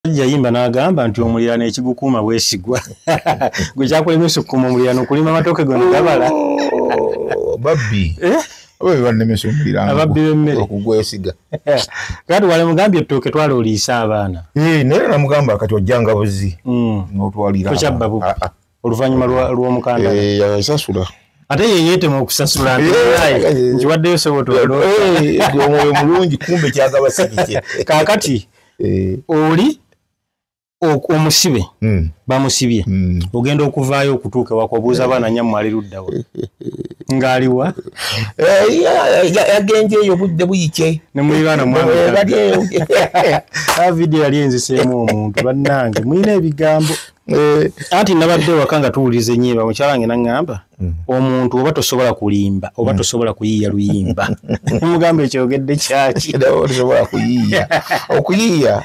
omusajja yimba n'agamba nti omulirano ekigukuuma bwesigwa gwe kyakulemesa okukuuma omulirano okulima amatooke gona gabala oh, babbi eh? bebanemesa omuliranoababbi bemmere okugwesiga kati wale mugambye ettooke twala oliisa abaana eh, naye namugamba kati ojjanga buzi hmm. notwalira oluvanyuma lw'omukanda eh, yasasula ate yeyetema okusasula nkiwaddeyo sobotomwoyo mulungi kumbe kyagaba sikikye kakati oli omusibe hmm. bamusibye hmm. ogenda okuvaayo okutuuka ewaka obuuza abaana nyamu ali luddawa ngaaliwa yagenje eyo budde buyike nemuliraana mwavidiyo yali enziseemu omuntu bannange mulina ebigambo Eh. anti nabadde waka nga tuwuliza enyimba mukyala nge naŋŋamba mm. omuntu oba tosobola kulimba oba mm. tosobola kuyiiya luyimba mugamba ekyogedde kyaki tosobola kuyiiya okuyiiya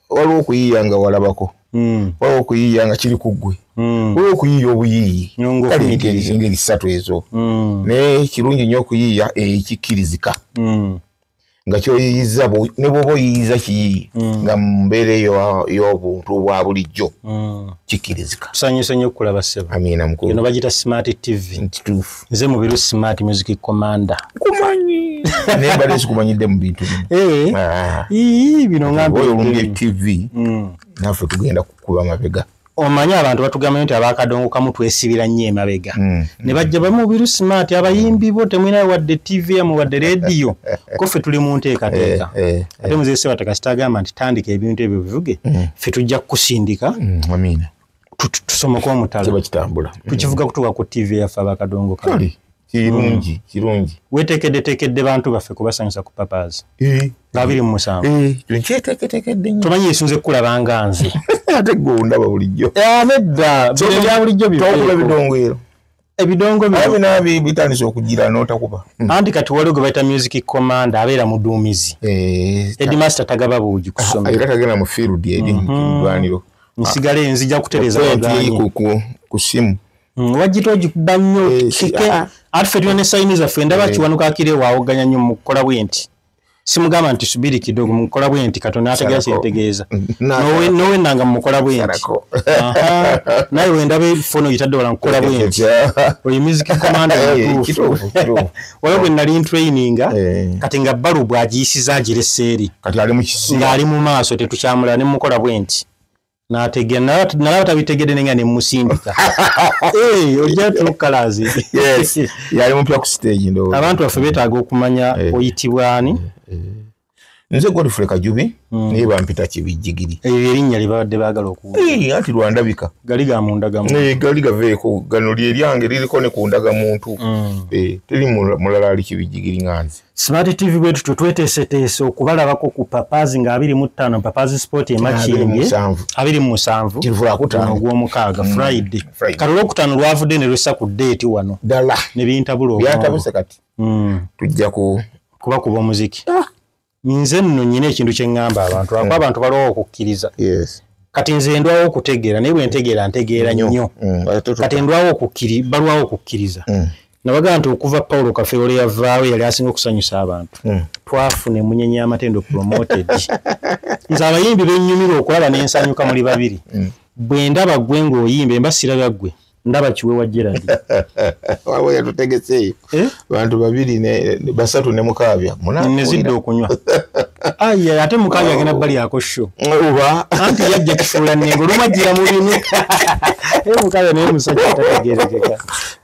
waliwo okuyiiya nga walabako mm. waliwo okuyiiya nga kiri ku ggwe waliwo okuyiiya obuyiiyi kaleengeri ssatu ezo naye kirungi nnyo okuyiiya ekikkirizika nga kyoyiyiza ne bwoba oyiyiza kiyiyi mm. nga mumbeera eyo y'obuntu bwa bulijjo mm. kikkirizika tusanyuse nyo okulaba sebo amiina mukulu eno bagita smart tv kituufu nze mubiru smart music commander kumanyi naye mbadde sikumanyidde mu bintu bino eh. ah. bino ngambi tv mm. naffe tugenda kukuba mabega omanyi abantu batugambayo nti abakadongo kamu twesibira nnyo emabega mm, mm. ne bajja bamubiru smart abayimbi bo temwinayo wadde tv yamu wadde rediyo koffe tuli mu nteekateeka eh, eh, eh. ate muzeseba tekasita agamba nti tandika ebintu ebyo bivuge mm. ffe tujja kukusindika tusomoka omutalo tukivuga kutuka ku tv yaffe abakadongo kamu kirungi mm. kirungi wetekedde tekedde bantu baffe kubasanyusa ku papas eh. nga biri mu musanvu eh, nkyeteketekedde nyo tomanyi esunze kukulaba nga nze ate gwe ondaba bulijjo eh, nedda bya bulijjo bitokuba ebidongwero ebidongo bina bitandise okugira notakuba hmm. anti kati waliwo gwe bayita music command abeera muduumizi edmaster tagaba buugi kusoma era tagenda mu field eri mhm. mulwaniro nsigale nzija kutereza ku simu Mm, wajjita ogikuba nnyo eh, kike ah, ah. ate fe tulina esayini zaffe ndaba eh. kiwanuka akire waawoganya nnyo mukukola bwe nti simugamba nti subiri kidogo mukukola bwe nti katonda ategera kyetegeeza nowennanga mumukola bwe nti naye wendaba ebifono gitadde wala mukukola bwe nti oyo miziki komanda mutuufu eh, waliwo bwe nali ntraininga kati nga balu bwagiyisiza agireseeri ng'ali mu maaso tetukyamulala ne mukola bwe nti nalaba tabitegede nenga nemusindika eh, ojja tukalazi yali mupya ku stage ndo abantu baffe betaaga okumanya eh. oyitibwani eh, nze godfrey kajubi hmm. naye bampita kibijjigiri ebyo erinnya lyebabadde baagala okuwula anti lwandabika gali ga mundagamu gali gaveeko gano lyeryange liriko ne ku ndagamuntu hmm. teri mulala ali kibijjigiri nga nze Smart TV bwetu twe twetese tese okubalabako ku papazi nga 25 papazi sport e machienge 27 kivula kutano gwo mukaga mm. friday karulo kutano lwavude ne rusa ku date wano dala ne binta bulo byatabuse kati mm. tujja ku kuba kuba muziki ah. nze nno nyine ekintu kye ngamba abantu mm. abantu balowo okukiriza yes kati nze ndwawo okutegera naye bwe ntegera ntegera nnyo mm. kati ndwawo okukiri balwawo okukiriza mm. nabaga nti okuva paulo kafeero lye yavaawo yali asinga okusanyusa abantu hmm. twafuna emunyenya amatendo promoted nze abayimbi benyumira okulaba nensanyuka muli babiri hmm. bwe ndaba gwe ngaoyimba emba siraga gwe ndaba kiwe wa gerald waba yatutegeseeyo eh? bantu babiri basatu ne mukaabya nezidde okunywa aye ate mukaabya agenda bali ako sho oba anti yajja kifuula nengo olumajjira mu binu eh, mukaabya naye musajja tategerekeka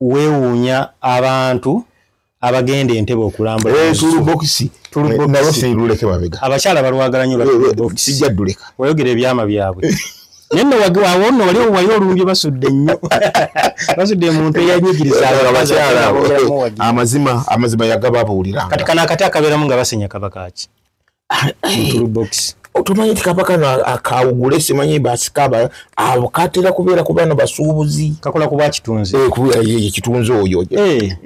wewuunya abantu abagenda entebe okulambulaabakyaala eh, balwagala nyo eh, eh, sijjaduleka wayogera ebyama byabwe naye no wagiwawo no wali owayi olumbye basudde nnyo basudde emuntu eyanyigirizaamazima amazima yagababuulira kati kano akati akabeeramu nga basenya kabakaki otumanyi nti kapa kano akawugule simanyi basikaba abo katera kubeera ku bano basuubuzi kakola kuba kitunzi eh, eh, kitunzi oyo eh.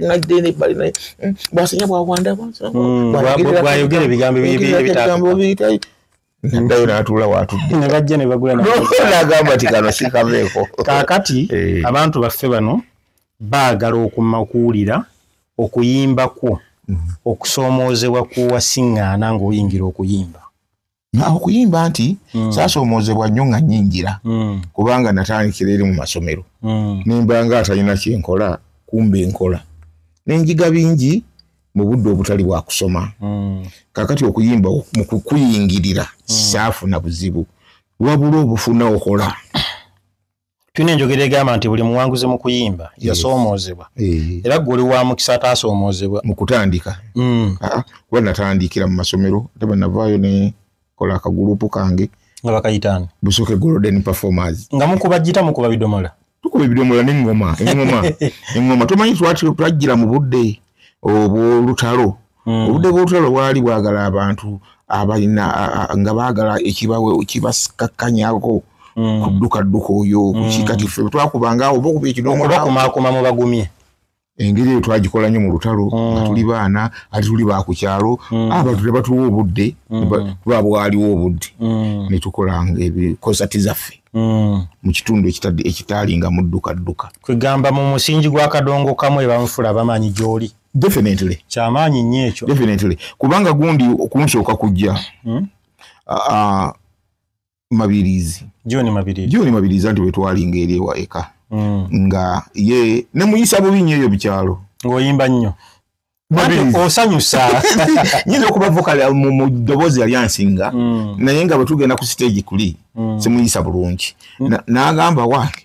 basinya bwawandabayogera ebigambo ebitaayo nadayo natuula watudde nebajja nebagula nagamba ti kano sikaveeko kakati abantu baffe bano baagala okumakuwulira okuyimba kwo mhm. okusoomoozebwa kuwasiŋŋaana ng'oyingira okuyimba okuyimba nti mm. saasoomoozebwa nnyo nga nyingira mm. kubanga natandikira eri mu masomero mm. nimba nga atalina kyenkola kumba enkola nenjiga bingi mu budde obutali bwa kusoma kakati okuyimba mu kukuyingirira saafuna buzibu wabula obufuna okola tulina enjogera egamba nti buli muwanguzi mu kuyimba yasoomoozebwa eh. era gwe oli wa mukisa ataasoomoozebwa mu kutandika mm. ah, ah. kuba natandikira mu masomero ate bwe navaayo ne kola akagulupu kange nga bakayitaani busooke golden performers nga mukuba jita mukuba bidomola tukuba ebidomola neŋoma eŋoma eŋoma tomanyi twajjira mu budde obwolutalo hmm. obudde bw'olutalo bwali bwagala abantu abalina nga baagala ekibawe kibakakkanyaako hmm. kuddukadduka oyo kukikati hmm. fe twakubanga oba okuba ekinoomubakumaakuma mu bagumye engeri eyo twagikola nnyo mu lutalo nga tuli baana ate tuli ba ku kyalo abantu ne batuwa obudde lwa bwaliwo obudde ne tukolanga ebikosati zaffe Mm. mu kitundu ekitaalinga muddukadduka kwegamba mu musingi gwa kadongo kamu ebamufula bamanyi gyoli definitely kyamaanyi nnyo ekyo definitely kubanga gundi kunsooka kujja hmm? mabirizi joni mabirizi joni mabirizi anti wetwalinga eri ewa eka hmm. nga ye ne muyisa bubi nnyo eyo bikyalo ng'oyimba nnyo osanyusa nyinza okuba vokale mu ddoboozi yali ansinga hmm. naye nga bwe tugenda ku siteegi kuli simuyisa bulungi n'agamba wange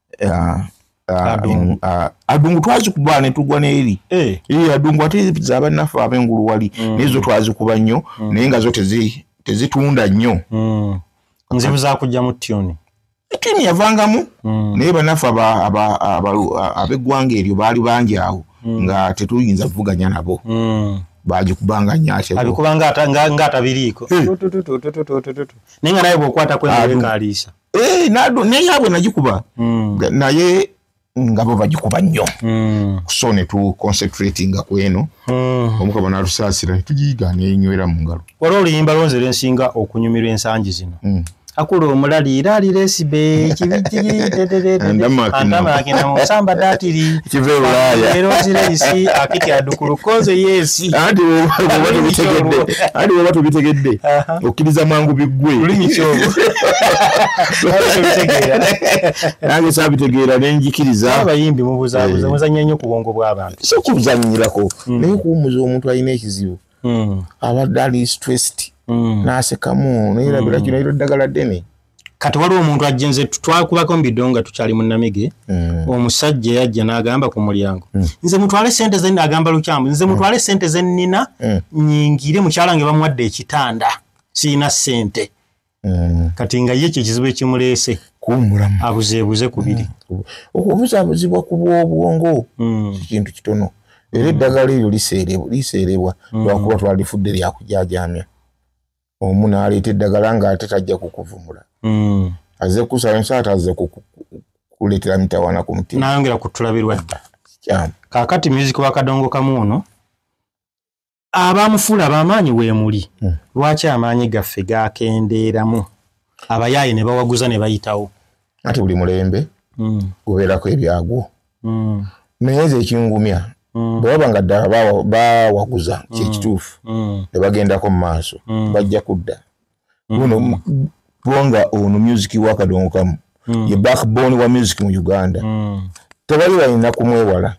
Ah, ah, Adungu. in- ah, adungu twazikuba netugwa neeri Eh, Ee, adungu ate zabannaffe abengulu wali naye zo twazikuba nnyo naye nga zo tezi- tezitunda nnyo mm. nzibu zakujja mu tuni tiimu yavangamu Mm. naye banaffe aba- aba- abalu- a- ab'eggwanga eryo baali bangi awo nga tetuyinza kuvuganya nabo Mm. bagikubanga nnyo ate bo. abikuba nga ata- nga- nga atabiriiko Tututututututututu. naye nga naye bwokwata Adu. kwewekaliisa Eh, nadu- naye abwe nagikuba Mm. Ga- naye nga bo bagikuba nnyo Mm. so ne tu concentratinga ku eno Mm. omukama n'atusaasira ne tugiyiga n'enywera mu ngalo waliwo oluyimba lonze lwensinga okunyumirwa ensangi zino Mm. akula omulali era aliresibe Andamaakina. musamba datiri Kiva e Bulaaya. era ozireyisi akiti adukulu koze yesi anti bwoba tubitegedde anti bwoba tubitegedde okkiriza mwangu biggwe nange sabitegeera nenjikirizabayimbi mubuzabuza eh. muzanya nnyo ku bwongo bw'abantu si okuzanyirako hmm. naye okuwumuza omuntu alina ekizibu hmm. abadde ali stressed hmm. n'asekamu nayerabira kino ero eddagala ddene kati waliwo omuntu ajja nze twakubako mu bido nga tukyali mu namige mm. omusajja yajja n'agamba ku mulyango mm. nze mutwale sente ze agamba lukyamu nze mm. mutwale sente ze nnina mm. nyingire mukyala nge bamuwadde ekitanda sirina sente mm. kati nga ye kye kizibu ekimuleese kuwumulamu abuzeebuze ku biri mm. okubuzaabuzibwa ku bw'obwongo mm. kikintu kitono era mm. eddagala eryo liseerebwa mm. lwakuba twalifudde lyakujajamya omu naleeta eddagala nga ate tajja kukuvumula mm. aze kusala nsa ate aze kukuleetera mitawana ku mutima nayongera kutulabirwa dda kyamu kakati music wa kadongo kamu ono abamufuula abamaanyi weemuli hmm. lwaki amaanyi gaffe gakendeeramu abayaaye ne bawaguza ne bayitawo ati buli mulembe hmm. gubeerako ebyagwo mm. naye nze ekingumya mm. bwe baba nga ddala bawaguza mm. kyekituufu mm. ne bagendako mu maaso mm. bajja kudda mm. luno mm. kubanga ono musiki wakadongo kamu mm. ye backbone wa musiki mu uganda mm. tebali balina kumwewala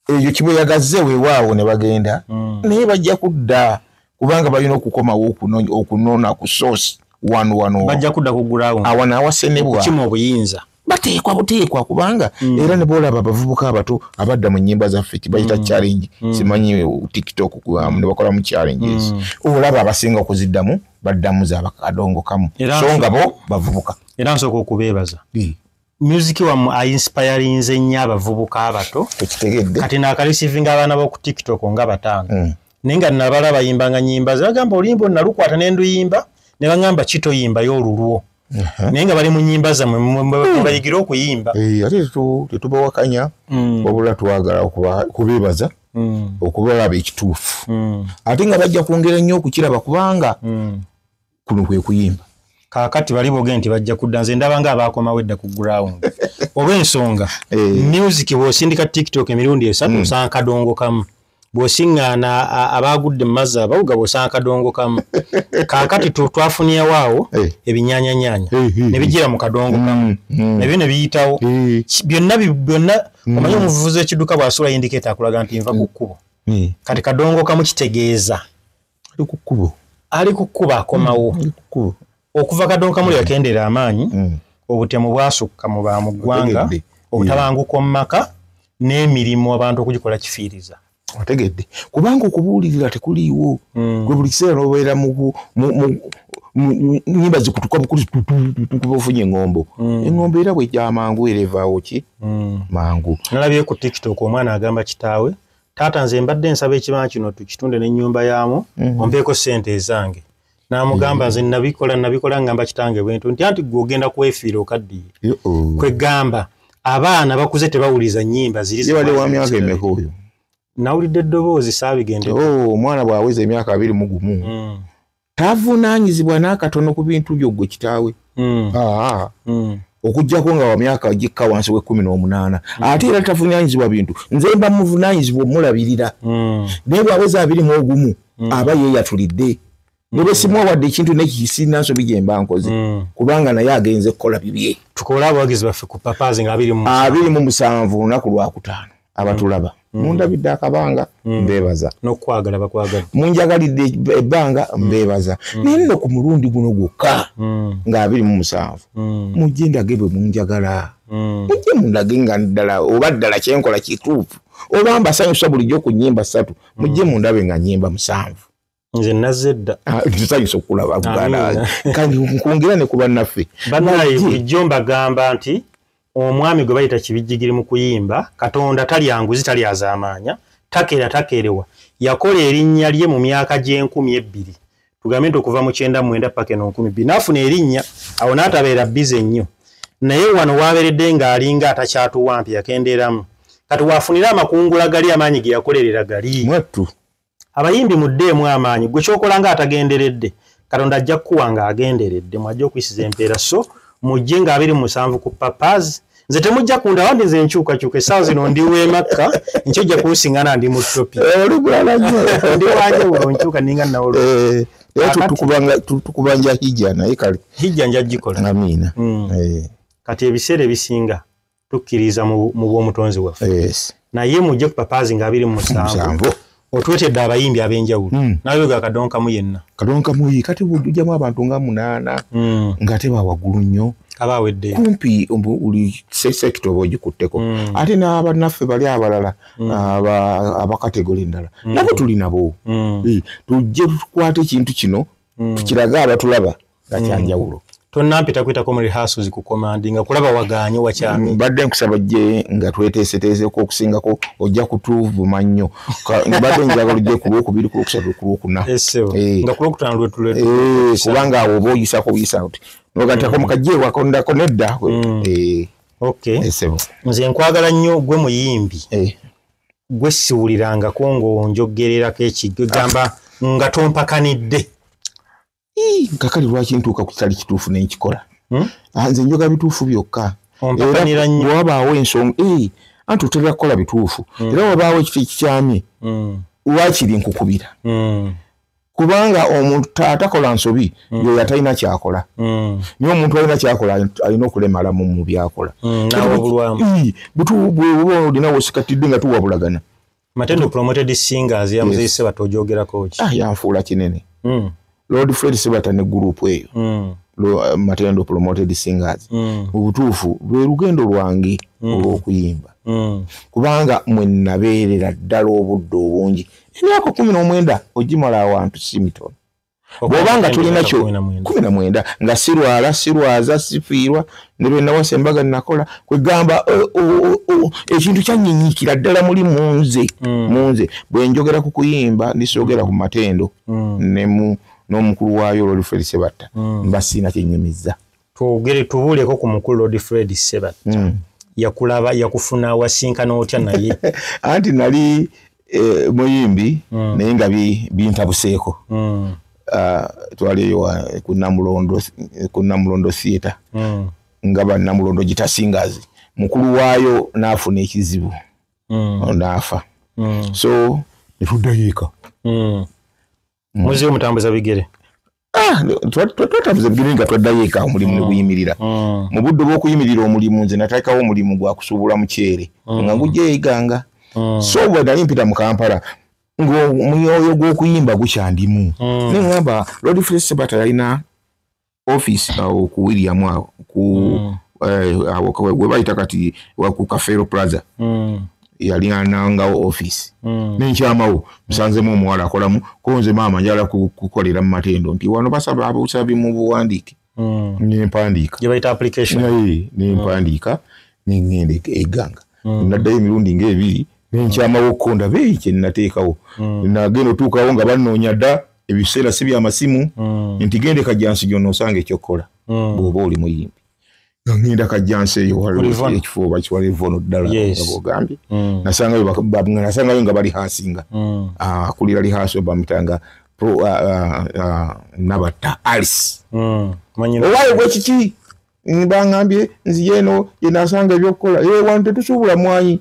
ekyo kibweyagaze wewaawo ne bagenda mm. naye bajja kudda kubanga balina okukomawo okunona ku source wanwano bajja kudda ku gulawo awo nawasenebwa kima obuyinza bateekwa buteekwa kubanga mm. era nebwolaba abavubuka abato abadda mu nyimba zaffe kibayita mm. challenge mm. simanyi tiktok um, nebakolamu challenges mm. olaba abasinga okuziddamu baddamu zabakadongo kamu so nga bo bavubuka era nsooka okubeebaza mm. music wamu ainspirinze nnyo abavubuka abato ekitegedde kati nakalisivinga abaana boku tiktok nga bataano mm. naye nga nabala bayimbanga nyimba zebagamba oluyimba onalukwata nenduyimba nebagamba kitoyimbayo olulwo naye nga bali mu nyimba zamwe mubayigire hmm. okuyimba eh, ate tetubawakanya hmm. wabula twagala kubebaza hmm. okubalaba ekituufu ate nga bajja kwongera nnyo okukiraba kubanga kuno kwe kuyimba kakati bali boge nti bajja kudda nze ndaba nga abaakomawo edda ku ground oba ensonga eh. music bwosindika tiktok emirundi esatu osanga kadongo kamu bwosiŋŋaana abaagudde mu mazzi abawuga bwosanga kadongo kamu kaakati twafuniyawo awo eh. ebinyaanyanyaanya eh, eh, ne bijira mu kadongo kamu mm, mm. nabyo ne biyitawo byonna byonna mm. omanyi omuvuzi w'ekidduka bw'asula yindikeeta akulaga nti nva ku kkubo kati kadongo kamu kitegeeza ali ku kkubo ali ku kkubo akomawo mm, ali ku kkubo okuva kadonka muli yakendeera mm. amaanyi mm. obutemu bwasukka mu ba mu ggwanga obutabanguka mu maka n'emirimu abantu okugikola kifiiriza otegedde kubanga okubuulirira tekuliiwo gwe buli kiseera nobeera nyimba zikutuka bukuli ofunye engombo mm. engombo era bwejja amangu era evaawo ki mm. mangu nalabye ku tiktok omwana agamba kitaawe taata nze mbadde nsaba ekibanja kino tukitunde nenyumba yaamu mhm. ompeeko sente ezange namugamba mhm. nze nabikola nabikola ngamba kitange bwentu nti anti gwe ogenda kwefiira okaddiye kwegamba abaana bakuze tebawuliza nyimba ziriwamyakaemekoyo nawulidde eddoboozi saabigendeomwana oh, bwaweza emyaka abiri mugumu mm. tavunaanyizibwa n'akatono ku bintu byo gwe kitaawe hmm. hmm. okujjako nga wamyaka gikka wansi w'ekkumi n'omunaana hmm. ate era tavunaanyizibwa bintu nze mba muvunaanyizibwa omulabirira naye bwaweza abiri mu ogumu aba yeeyatulidde nebe simuwa wadde ekintu nekisirina nsobi gye mba nkoze kubanga naye agenze kukola bibye tukole abawagizi baffe ku papazi nga abiri mu musanvu olunaku lwakutaano abatulaba mm. mundabidde akabanga mm. mbebaza nokwagala bakwagala munjagalidde ebbanga mm. mbebaza mm. naye nno ku mulundi guno gwokka mm. nga abiri mu musanvu mm. mujje ndage bwe munjagala mm. mujje mundage nga ddala oba ddala kyenkola kituufu oba mbasanyusa bulijjo ku nyimba ssatu mujje mm. mundabe nga nyimba musanvu nze nazze edda tusanyusa ah, okulaba buganda kandi nkwongera ne ku bannaffe banaye bulijjo mbagamba nti omwami gwe bayita kibijjigiri mu kuyimba katonda talya nguzi talya azaamaanya takeera takeerewa yakola erinnya lye mu myaka gy'enkumi ebbiri tugambe nti okuva mu kyenda mwenda paka eno nkumi bbiri naafuna erinnya awo n'atabeera bize nnyo naye wano waaberedde ng'alinga atakyatuwa mpi yakendeeramu kati waafunira amakungula gali amaanyi ge yakolerera gali mwattu abayimbi muddeemu amaanyi gwe kyokola nga atagenderedde katonda ajja kukuwa nga agenderedde mwajja okuyisiza empeera so mujje nga abiri musanvu ku papaz nze temujja kunda wandi nze enkyukakyuka esaawa zino ndi wemakka nkyojja kunsingana ndi mu topi eh, ndi wanjawulo nkyuka ninga nawolo eh, tukubanja hijja naye kale hijja njagikola amiina hmm. eh. kati ebiseera ebisinga tukkiriza mu bw'omutonzi waffe naye mujje ku papaazi nga abiri mu musanvu otwetedde abayimbi ab'enjawulo hmm. nawe ga kadonkamu yenna kadonkamu yi kati bujjamu abantu nga munaana hmm. nga ate bawagulu nnyo aba awedde kumpi buli sekita oba ogikutteko hmm. ate n'abannaffe bali abalala abakategole endala nabo tuli nabo tujje tukwata ekintu kino tukirage abatulaba nga kyanjawulo mm. tonampita kuyitako mu rehearsals ku komandi nga kulaba waganye wakyami mm, badde nkusaba jje nga tweteeseteeseeko okusingako ojja kutuvuma nnyo badde njagala ojje ku lwokubiri ku lwokusatu ku lwokuna eh, eh. nga ku lwokutano lwetulwe eh, kubanga awo oba oyisako oyisa oti nogatako mm. mukajje wakondako nedda mm. okay nze nkwagala nnyo gwe muyimbi gwe siwulirangako ng'onjogererako ekigamba nga tompakanidde kakali lwaki ntuuka ku kitali kituufu nenkikola hmm? ah, nze njoga bituufu byokka wabaawo ensonga eh, anti otera kukola bituufu hmm. era wabaawo ekifo ekikyamye hmm. wakiri nkukubira kubanga omuntu taatakola nsobi yoyo atalina kyakola naye omuntu alina kyakola alina okulemalamu mu byakola bwewoba olinawo osikatidde nga tuwabulagana Matendo promoted singers ya mzee yes. Sebato ojogera kochi. Ah, ya mfula kinene. Mm. Lord Fred Sebato ne group eyo. Mm. Lo, uh, Matendo promoted singers. Mm. Ubutufu, lugendo lwangi mm. olwokuyimba. Mm. Kubanga mwe nabeerera ddala obudde obungi. Emyaka kumi n'omwenda ogimala awantu si mitono. bwoba nga tulina kyo kumi na mwenda nga sirwala sirwaza sifiirwa ne bwe nawasa embaga nakola kwegamba ekintu kyanyinyikira ddala muli munze mm. munze bwe njogera ku kuyimba ndisogera ku matendo mm. nemu n'omukulu waayo olwoluferisebatta mm. mba siina kyenyumiza twogere tubuuleko ku mukulu lord fred seba mm. yakulaba yakufuna wasinkana otya naye anti nali e, muyimbi mm. naye nga bintabuseeko bi mm. uh, twali eyo eh, ku namulondo theatre mm. nga banamulondo gitasingazi mukulu waayo naafuna ekizibu mm. naafa mm. so netudayiika mm. mm. muziyo mutambuza bigere ah, twatambuza bigere nga twaddayo eka omulimu mm. neguyimirira mm. mu budde bwokuyimirira omulimu nze natekawo omulimu gwakusuubula mukyere nga ngujeyeganga so bwe nali mpita mu kampala ngomwoyo gwokuyimba gukyandimu nengamba lodi fresebata yalina office awo ku William awo ku mm. eh, awo kwa we baita kati wa ku Cafero Plaza mm. yali ananga office mm. nenkyamawo msanze mu mwala akolamu konze mama njala kukolera mu matendo nti wano basaba abusabi mu buwandike mm. ne mpandika je baita application naye ne mm. mpandika mm. ne ngende eganga mm. nadda emirundi nga ebiri nenkyamawo konda beyi kye nateekawo mm. nagenda otuukawo nga banonya da ebiseera si byamasimu mm. nti gende kajjansi gyona osanga ekyokukola mm. bwoba oli muyimbi ngenda kajjansi eyoekifuba kiwalivono ddala ogambye mm. nasangayo nga bali hasinga ah, akulira lihaasi obamutanga ah, ah, nabatta alice owaye bwekiki bangambye nziyeno yenasanga ebyokukola ewantu eh, tetusuubula mwanyi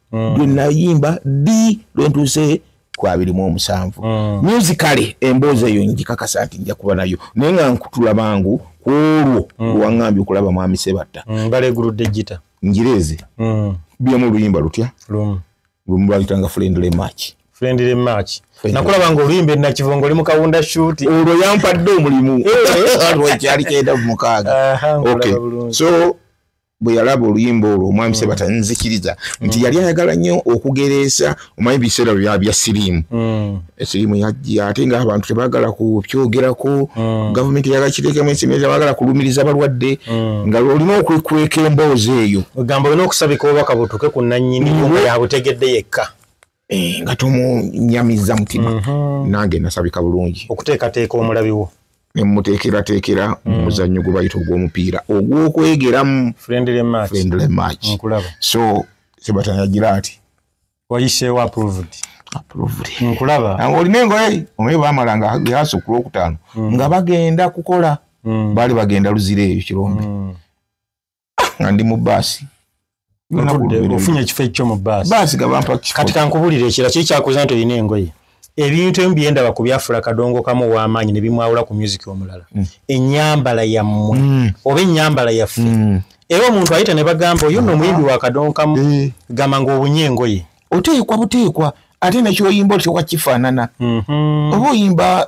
mm. bwe nayimba ddi lwe ntuuse ku abiri mu omusanvu mm. musicale emboozi eyo ngikakasa nti nja kuba nayo naye nga nkutula bangu ku olwo mm. lwaŋambye okulaba mwami sebatta ngaleguludde gita njireeze byemu oluyimba lutya lumu lwayitanga friendly match friendly match nakulaba nga oluyimba enakivongo oli mukawunda shuti olwo yampadde omulimu eh. kyali kyenda mumukaaga so bwe yalaba oluyimba olwo omwami mm. sebata nzikiriza nti mm. yali ayagala nnyo okugereesa omanyi biseera bya bya siriimu mm. esiriimu yajja ate nga abantu tebagala kukyogerako gavumenti eyagala kiteekemu esirimu tebagala kulumiriza balwadde nga olina okwekweka emboozi eyo ogamba olina okusabika obubaka butuuke ku nannyini yabutegedde yekka Eh, nga tomunyamiza mutima mhm. nange nasabika bulungi okuteekateeka omulabi wo nemuteekerateekera mu mm. muzannyo gwe bayita ogw'omupiira ogw'okwegeramu friendly match so sebatanagira ati wayiseewo approved nkulaba olina engoye omaye bamala nga yasa okula okutaano mm. nga bagenda kukola mm. baali bagenda luzira eyo kirombe nga ndi mu baasi ofunye ekifo ekyo mu baasi kati kankubulira ekira kiri kyakuza nti olina engoye ebintu emu byendaba ku byafula kadongo kamu ow'amaanyi ne bimwawula ku musiki omulala mm. ennyambala yammwe mm. oba ennyambala yaffe mm. era omuntu ayita ne bagamba oyo nno omuyimbi wa kadongo kamu eh. gamba ng'obunye engoye oteekwa buteekwa ate nekyoyimba otyoka kifaanana mhm. oba oyimba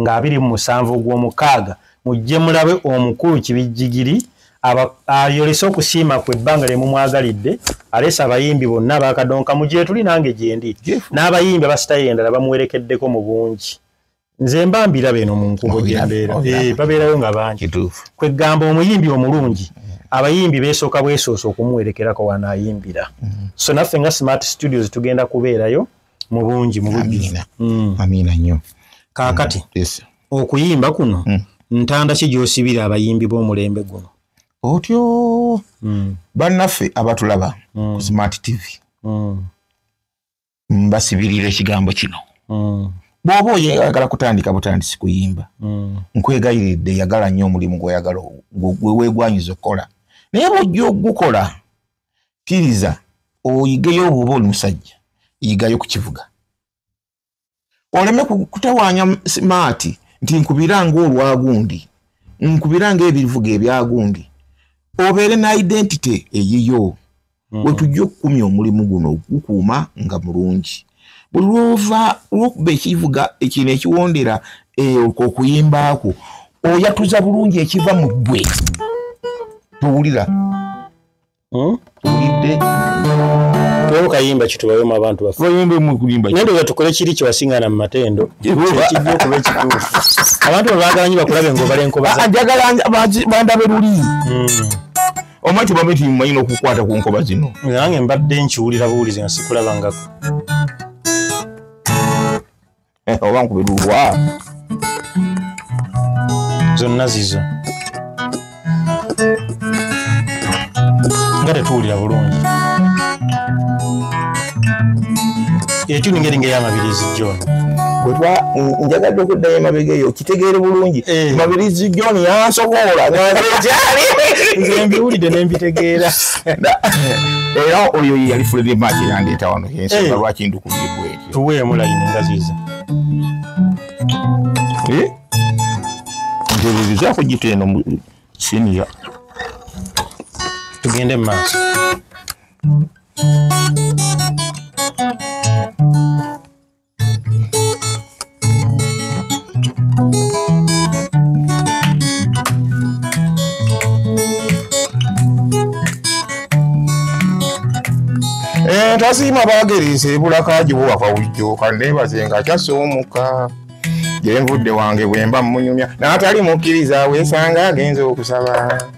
nga abiri mu musanvu ogw'omukaaga mujje mulabe omukulu kibijjigiri ayolese okusiima ku ebbanga lye mumwagalidde aleese abayimbi bonna bakadonkamu gyetuli nange gyendi n'abayimbi abasitayo endala bamuwerekeddeko mu bungi nze mba mbiraba eno mu nkubo gyembeera eh, babeerayo nga bangi kweggamba omuyimbi omulungi abayimbi besooka bwesoosa okumuwerekerako wanaayimbira mm. so naffe nga smart studios tugenda kubeerayo mubungi mubujjuzi mm. amiina nnyo kaakati mm. yes. okuyimba kuno mm. ntanda ki gyosibira abayimbi b'omulembe guno otyo mm. bannaffe abatulaba mm. ku smart tv mm. mbasibirira ekigambo kino mm. bwoba oyagala kutandika butandisi kuyimba mm. nkwegayiridde yagala nnyo omulimu gweyagala gwewegwanyiza okukola naye bwojja okugukola kiriza oyigeyo obuba oli musajja yigayo kukivuga oleme kutawanya maati nti nkubira nga olwagundi nkubira nga ebivuga ebyagundi obeere na identity eyiyo mm. wetujja okukumya omulimu guno okukuuma nga mulungi buli lwova lwokuba ekivuga ekino ekiwondera eh, okuyimbaako oyatuza bulungi ekiva mu ggwe towulira hmm? kayimba kitubayoma abantu bafenandoza tukole kiri kyewasingana mu matendo kijja okuba ekituufu abantu bebagala nyo bakulabe ngaobala enkobanjagala bandabe luli omwa kibame timumanyi nokukwata ku nkoba zino nange mbadde nkiwulira buwulizi nga sikulabangako eh, oba nkubirulwa zonna zizo nga tetuwulira bulungi etuli ngeri ngeyamabirizi john kuba njagadde okuddayo emabega eyo kitegeere bulungi eh. mabirizi john yansobola nganjali nze mbiwulidde nembitegeera era oyo yeyali fulire maaki yandeeta wano yensonga eh. lwaki ndukubye kweri tuweemu layini nga ziza eh? nteberezako gita eno siniya tugende mu maaso eh, tasiima bagereesa ebulakagiwo wava wujjo kandeebaze nga kyasoomuka gyenvudde wange bwemba munyumya n'atali mukkiriza weesanga agenza okusaba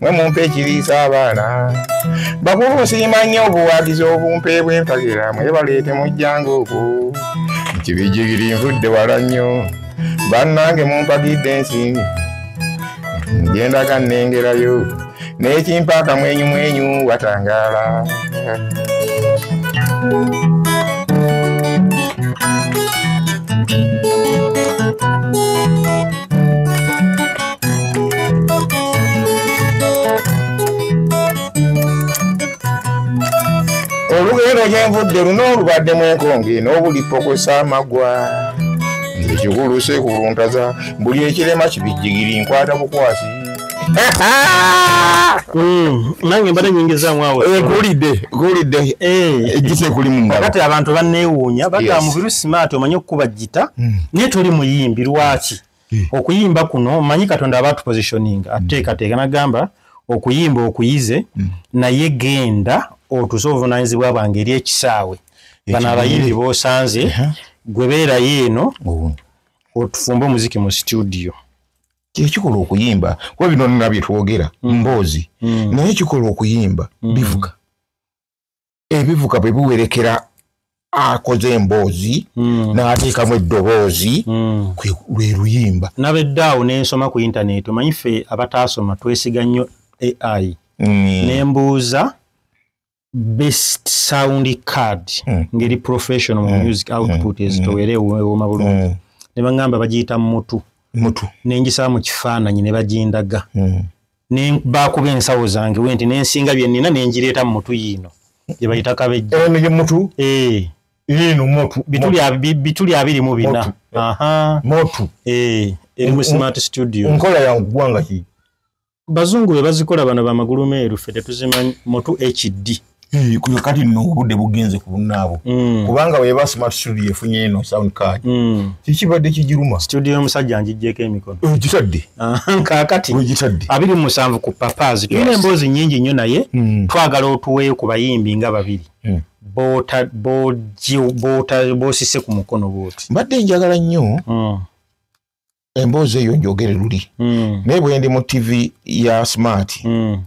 mwe mumpa ekiriisa abaana bakulu nsiima nnyo obuwagizi obumpe bwempagira mwe baleete mujjanga oku kibijigiri nvudde wala nnyo bannange mumpagidde ensimbi ngendaga nnengerayo n'ekimpa akamwenyumwenyu watangaala olugendo gyenvudde luna olubaddemu enkonge n'obulipokosa amagwa ekigulu sekuluntaza buli ekirema kibijjigiri nkwata bukwasi Mm, nange mbadde nyingizaamu awo eh, kulidde kulidde eh. ejjisa ekuli mu ngalo kati abantu banneewuunya bagamba mubiru simaati omanyi okukuba jita mm. naye toli muyimbi lwaki mm. okuyimba kuno manyi katonda aba tupositioning ateekateeka nagamba okuyimba okuyize naye genda otuze obuvunanyizibwa bwange eri ekisaawe bano abayimbi bosanze gwe beerayo eno otufumbe omuziki mu situdiyo kyekikola okuyimba kuba bino nga byetwogera mm. mboozi mm. naye kikola okuyimba mm. bivuga ebivuga bwe biwerekera akoze emboozi mm. n'ateekamu eddoboozi mm. lwe luyimba nabeddaawo nensoma ku intaneti omanyi ffe abataasoma twesiga nnyo ai mm. nembuuza best sound card mm. ngeri professional mm. music mm. output mm. ezitowere mm. ewoma bulungi mm. ne bangamba bagiyita mutu mutu nenjisa mu kifaananyi ne bagindaga mm. ne bakuba ensawo zange we nti nensinga bye nina nenjireeta mu mutu yiino gye bayita kabejja eno ye mutu eh. yiino mutu bituli abiri mu bina mutu eh. eri mu smart studio nkola ya ggwanga ki bazungu be bazikola bano bamagulu meeru ffe tetuzimanyi mutu hd eh, kuyo kati no obudde bugenze ku bunnaabo mm. kubanga weba smart studio efunye eno sound card mm. kikibadde kijiruma studio y'omusajja njijjeko emikono eh, gitadde ah, kakati eh, gitadde abiri mu musanvu ku papas tulina emboozi nyingi nnyo naye mm. twagala otuweeyo ku bayimbi nga babiri boosise ku mukono bwoti mbadde njagala nnyo emboozi eyo njogere luli mm. naye bwendi mu tv ya smart mm.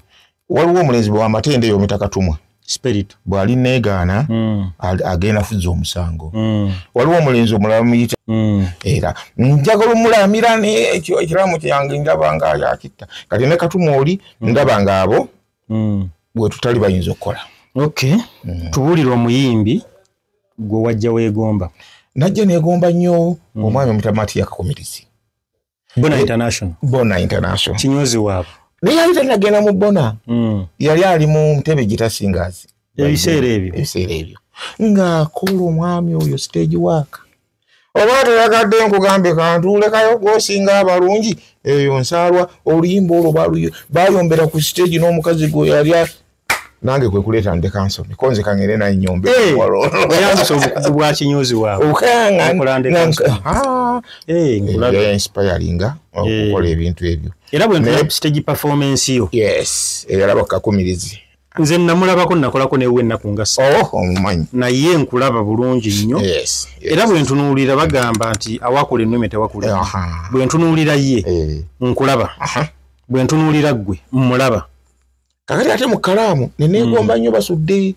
waliwo omulenzi bwamatende eyo mitakatumwa spirit bwali negaana mm. agenda fuza omusango mm. waliwo omulenzi omulala muyita mm. era njagala omulamira nekyo ekiramu kyange ndaba nga yakitta kati ne katuma oli mm. ndaba nga abo mm. bwetutali bayinza okukola okay. mm. tubulire omuyimbi gwe wajja wegomba najja negomba nnyo mm. omwami omutamati yakakumirizi bona international bona international kinyozi waabwe naye yali tanagenda mu bona mm. yali ali mu ntebe gitasingazi ebiseera ebyo ebiseera ebyo ng'akola omwami oyo stage work oba toyagadde nkugambe kantuulekayo gwosinga abalungi eyo nsaalwa oluyimba olwo bayombera ku siteegi n'omukazi gwe yali nange kwekuleeta ndeka nsome konze kangere naye nyombeoyambisa eh, obukugu bwa kinyuzi waweokulandekansomeinspiringa eh, eh, okukola ebintu ebyo era bwentunaye siteegi performance yo yes eyalaba kakumirizi nze namulabako nakolako newe ennaku nga oh, omumanyi naye nkulaba bulungi nnyo era bwe ntunuulira bagamba nti awakula ennume tewakula bwe ntunuulira ye eh. nkulaba bwe ntunuulira ggwe mmulaba kakati ate mu kalaamu neneegomba mm. nnyo basudde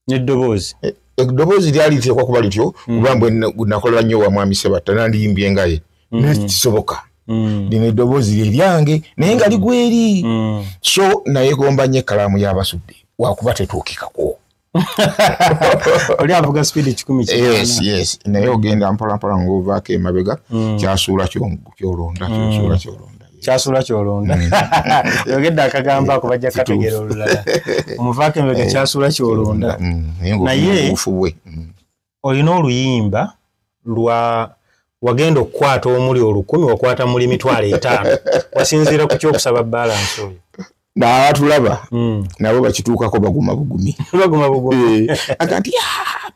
neddoboozi eh, eddoboozi lyali liteekwa kuba lityo hmm. kuba mbwe nakolera nnyo wa mwami sebatta nandiyimbye engaye hmm. naye kisoboka hmm. lino eddoboozi lye lyange naye nga ligweri so nayegomba nnyo ekkalaamu y'abasudde wakuba tetuukikako oli avuga speed kikumi yes yes naye ogenda mpolampola ngaovaako emabega mm. kyasuula kyolonda kyasuula mm. kyolonda kyasula kyolonda mm. yogedde akagambo ako bajja kategera olulala omuvaako embega eh, kyasula kyolonda mm, mm, naye olina oluyimba lwa wagenda okukwata omuli olukumi wakwata muli mitwalo etaano wasinziira ku kyokusaba balansi oyo nabatulaba mm. nabo bakituukako baguma bugumi eh, agati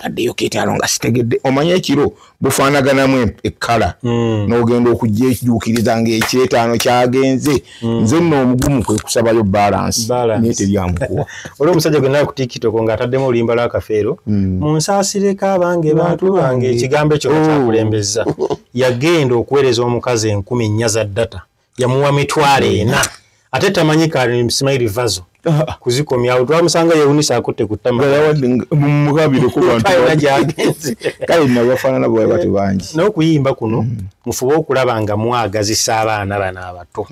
baddeyo ketaalo nga sitegedde omanya ekiro bufaanaganamu ekkala mm. n'ogenda okujja ekijuukiriza ngaekyetaano kyagenze mm. nze nno omugumu kwe kusabayo balansi naye teryamukuwa olwo omusajja gwenawe ku tikitoko ng'ataddemu olimba lwakafeero mu nsaasireko abange bantu bange ekigambo ekyo kyakulembezza oh. yagenda okuweereza omukazi enkumi nnya za data yamuwa mitwalo ena ate tamanyi kasimairi vazo ah. kuzikomyawo twamusanga yewunisa akutte ku tamaaaaafaanana bwe bati bangi n'okuyimba kuno mm. mufube okulaba nga mwagazisa abaana bano abato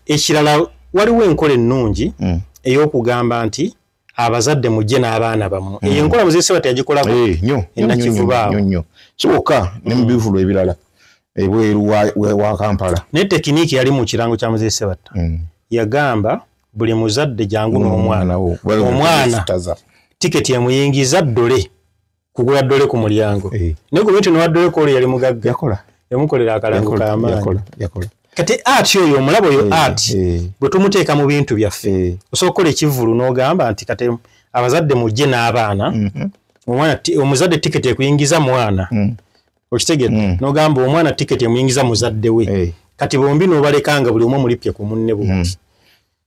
ekirala waliwo enkola ennungi mm. ey'okugamba nti abazadde mujje n'abaana bamu mm. eyo enkola muzee sebati yagikolako eh, nyo enakivubaawo nyo kyoka ne mu mm. bivulu ebirala ebweru wa kampala naye tekiniiki yali mu kirango kya muzee sebata mm. yagamba buli muzadde jangu n'omwana omwana tiketi emuyingiza ddole kugula ddole ku mulyango eh. naye gavumenti nowaddole ku olwo yali mugagga yakola yamukolera akalango kamaanyi kati ati oyo omulabo oyo eh, ati eh. bwe tumuteeka mu bintu byaffe osobola okukola ekivulu n'ogamba nti kati abazadde mujje n'abaana mhm. omwana omuzadde tiketi ekuyingiza mwana mm. okitegedde mm. n'ogamba omwana tiketi emuyingiza muzadde we kati bombi n'obalekanga buli omu omulipye ku munne bwoti mm.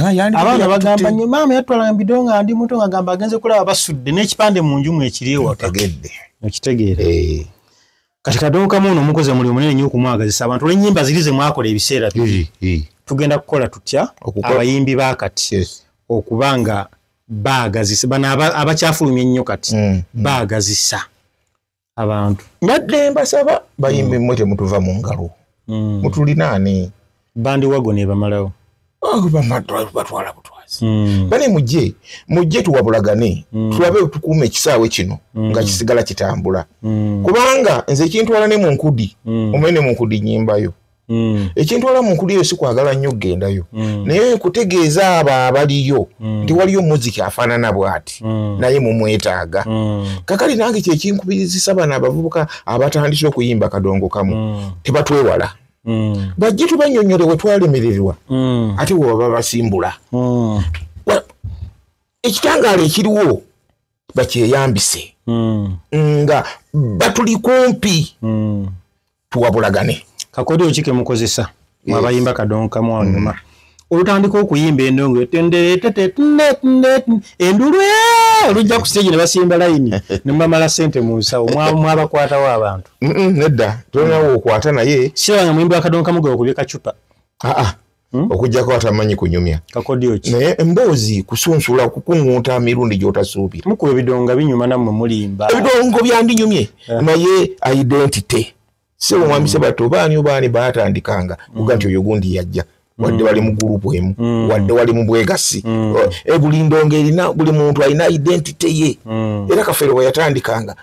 abaana bagamba nyo maama yatwalanga bido nga ndi muto ngagamba agenze kulaba basudde n'ekipande mu nju mwekiri ewategedde okitegeera eh. kati kadonkamu ono omukozi omuli omunene nyo okumwagazisa abantu olwenyimba ziri ze mwakola ebiseera biri eh, eh. tugenda kukola tutya abayimbi ba kati okuba nga baagazisa bano abakyafulumya ennyo kati mm, mm. baagazisa abantu mbadde mbasaba bayimbi mmwe temutuva mu ngalo mm. mutulinaani bandi wago nebamalawo oh, batwala butwazi mm. bane mujje mujje tuwabulagane mm. tulabe tukuuma ekisaawe kino nga kisigala kitambula kubanga nze ekintwala ne mu nkudi omanye ne mu nkudi nyimbayo Mm. ekyentwala mu nkuliyo si kwagala nnyo okugendayo mm. naye kutegeeza abo abaliyo mm. nti waliyo muziki afaanana bw'ati naye mumwetaaga kakali nange kyekinkubirizisa bano abavubuka abatandise okuyimba kadongo kamu tebatwewala bajje tubanyonyole we twalemererwa ate we baba basimbula ekitangaala ekiriwo bakyeyambise nga batuli kumpi tuwabulagane kakodyo ki kemukozesa mwabayimba kadonka mwanyuma mm. olutandika okuyimba endongo endulu olujja ku stage ne basimba layini ne mumamala sente mu nsawo mwabakwatawo abantu nedda tolinawo okwata naye sirabanga muyimbi wakadonka mugoba kubye kacupa aa ah, ah. Hmm? okujjako atamanyi kunyumya naye emboozi kusunsula kukuŋŋunta mirundi gy'otasuubira mukuba ebidonga binyuma nammwe mulimba ebidongo byandinyumye eh. naye identity si omwami hmm. sebato baani obaani baatandikanga hmm. kuga nti oyo gundi yajja wadde wali mu gurupu emu wadde wali mu bwegassi eh, buli ndongo erina buli muntu alina identity ye era kafeero bwe yatandikanga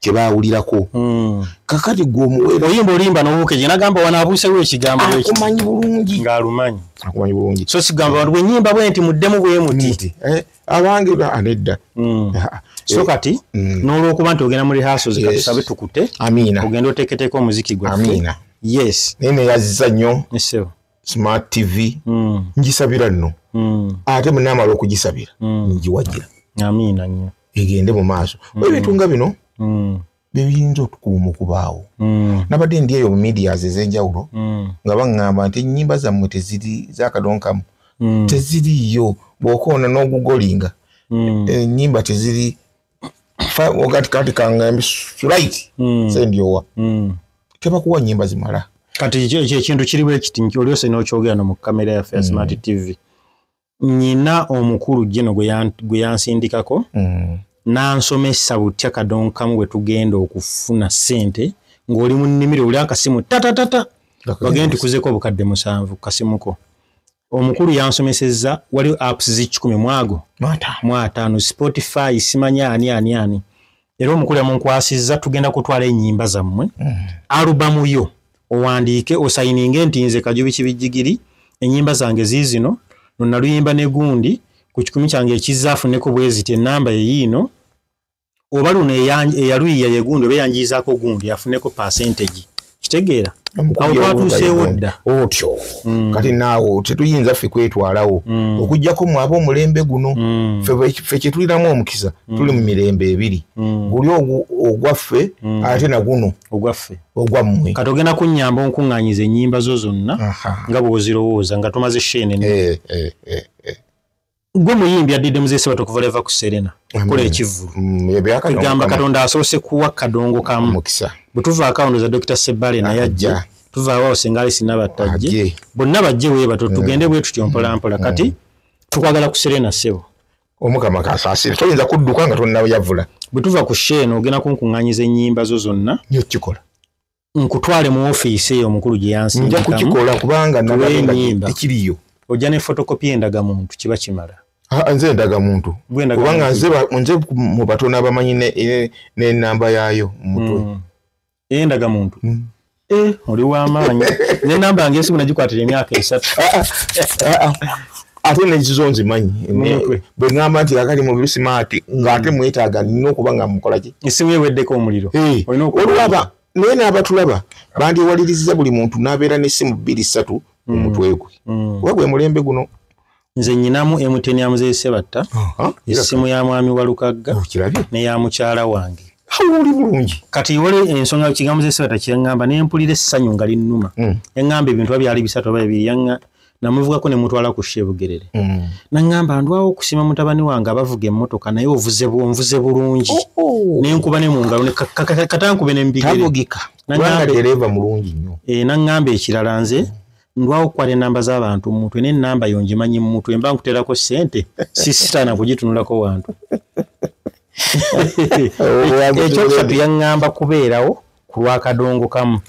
kyebawulirako hmm. kakati gwe omuwere oyimba olimba nobukeje nagamba wanabuusewo ekigambo akumanyi bulungi ngaalumanyi akumanyi bulungi so sigamba bantu bwenyimba bwe nti muddemu bwemuti eh, abange anedda hmm. eh, so kati hmm. nolwokuba nti ogenda mu rehearsals kati tusabe tukute ogenda oteketeeka omuziki gwa yes naye neyazza nnyo smart tv mm. ngisabira nno mm. ate munamala okugisabira mm. ngiwagira amiina nyo egende mu maaso mm. ebintu nga bino mm. bebiyinza otukuuma okubaawo mm. nabadde ndi eyo medias ezenjawulo mm. nga baŋŋamba nti ennyimba zammwe teziri zakadonkamu mm. teziriiyo bwokoona n'ogugolinga mm. ennyimba teziri kati kati kangambi right mm. send your mm. kema kuwa nyimba zimala kati je je kintu kiri we kiti nki olyo sino chogera no kamera ya face mm. smart tv nyina omukuru jeno gwe yan gwe yansindika ko mm. na nsome sabutya kadon kamu we tugenda okufuna sente ngoli mu nimiro ulya kasimu tata tata bagenti kuzeko bukadde musanvu kasimuko omukulu yansomesezza waliwo apps zikikumi mwago mwataano spotify simanya ani ani ani era omukulu yamunkwasizza tugenda kutwala enyimba zammwe mm. alubamu yo owandiike osayininge nti nze kajubi kibijjigiri enyimba zange ziizino nonaluyimba negundi ku kikumi kyange ekizza afuneko bweziti enamba yeyiino oba luno eyaluyiya yegundi oba eyanjiizaako gundi afuneko percentage kitegeera awo twatuuseewo dda otyo mm. kati naawo tetuyinza ffe kwetwalawo mm. okujjako mu aba omulembe guno mm. ffe kyetulinamu omukisa tuli mu mirembe ebiri guli ogwaffe ate naguno ogwaffe ogwammwe kati ogenda kunnyamba onkuŋŋanyiza ennyimba zo zonna nga bwozirowooza nga tumaze sheene eh, eh, eh, gwe muyimbi adidde muzesebatu okuva leva ku serena kola ekivulu mm, kigamba katonda asoose kuwa kadongo kamu bwetuva akawundo za dokita sebale naye ajja tuvaawo awo singa alisi nabattajje bonna bajje webato mm. tugende bwe tutyo mpolampola kati mm. tukwagala ku serena sebo omukama kasasire toyinza kudduka nga tonayavula bwetuva ku sheeno ogenda kunkuŋŋanyiza ennyimba zo zonna nyo kikola nkutwale mu ofiisi eyo omukulu gye yansindikamu nja kukikola kubanga nalaenyimba ekiriyo ojja ne fotokopi endaga muntu kiba kimala ah, nze endaga muntu kubanga nze nze mu batono abamanyi nenamba yayo mumutwe mm. endaga muntu mm. eh, oli wamaanyi nenamba nga esimu nagikwatira emyaka esatu ah, ah, ate nekizo nzimanyi emutwe bwe ŋŋamba nti akali mu bisimaati ng'ate mm. mwetaaga nina okuba nga mukola ki esimu eweddeko omuliro olwaba naye n'abatulaba bandyewaliriza buli muntu n'abeera n'essimu bbiri ssatu mm. omutwe gwe mm. kuba gwe mulembe guno nze nyinamu emuteni ya muzee sebatta essimu ya mwami wa lukagga oh, neya mukyala wange oli bulungi kati wali ensonga kigambo ze sebatta kyeŋŋamba ne mpulira essanyu nga linnuma eŋŋamba ebintu ba byali bisatu oba ebiri namuvugako ne mutwala ku shebugerere mm. nangamba ndwawo okusima mutabani wange abavuga emmotoka naye ovuze bwonvuze bulungi oh, oh. nenkuba ne mungalo katankube nembigeretagika dereva mulungi nyo e, nangamba ekirala nze mm. ndwawo okukwata enamba z'abantu mumutwe naye enamba yo ngimanyi mumutwe mba nkuterako sente sisitaana kugitunulako wantu ekyokusatu yaŋŋamba kubeerawo ku lwakadongo kamu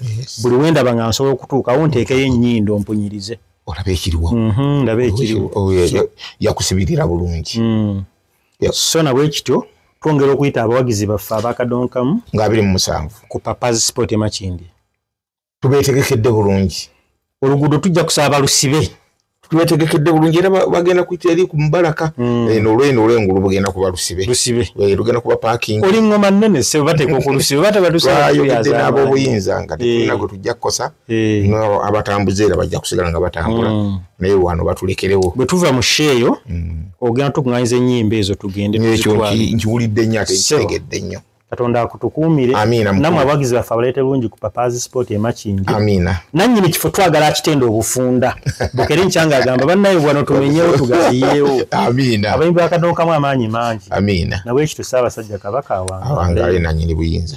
buli wendaba nga nsobola okutuukawo nteekeyo ennyindo mpunyirize olaba ekiriwo mhm, ndaba ekiriwo oh, yakusibirira bulungi mm. so nabwe kityo twongera okuyita abawagizi baffe abakadongo kamu nga abiri mu musanvu ku papas sport emakindi tubeetegekedde bulungi oluguudo tujja kusaba balusibe twetegekedde bulungi era bagenda kuyita eri ku mubalaka hmm. eh, nolweno olwengulu bugenda kuba lusibe eh, lugenda kuba paking oli ngoma nnene se bateeka okulusibe batebatusayogedde n'abobuyinza nga tetulina eh. gwe tujja kukosa abatambuze era bajja kusigala nga batambula hmm. naye wano batulekerewo bwe tuva mu sheeyo hmm. ogenda tukuŋanyiza ennyimba ezo tugende nkiwulidde nnyo ate nkitegedde nnyo katonda akutukuumire namwe abawagizi baffe abaleete lungi ku papazi sport emakindi nanyini kifo twagala akitenda obufunda bukere nkyanga agamba bannaye bwano tumenyewo tugaliyewo abayimbi bakadookamu amaanyi mangi nabwekityo saabasajja kabaka awangaale nanyini buyinza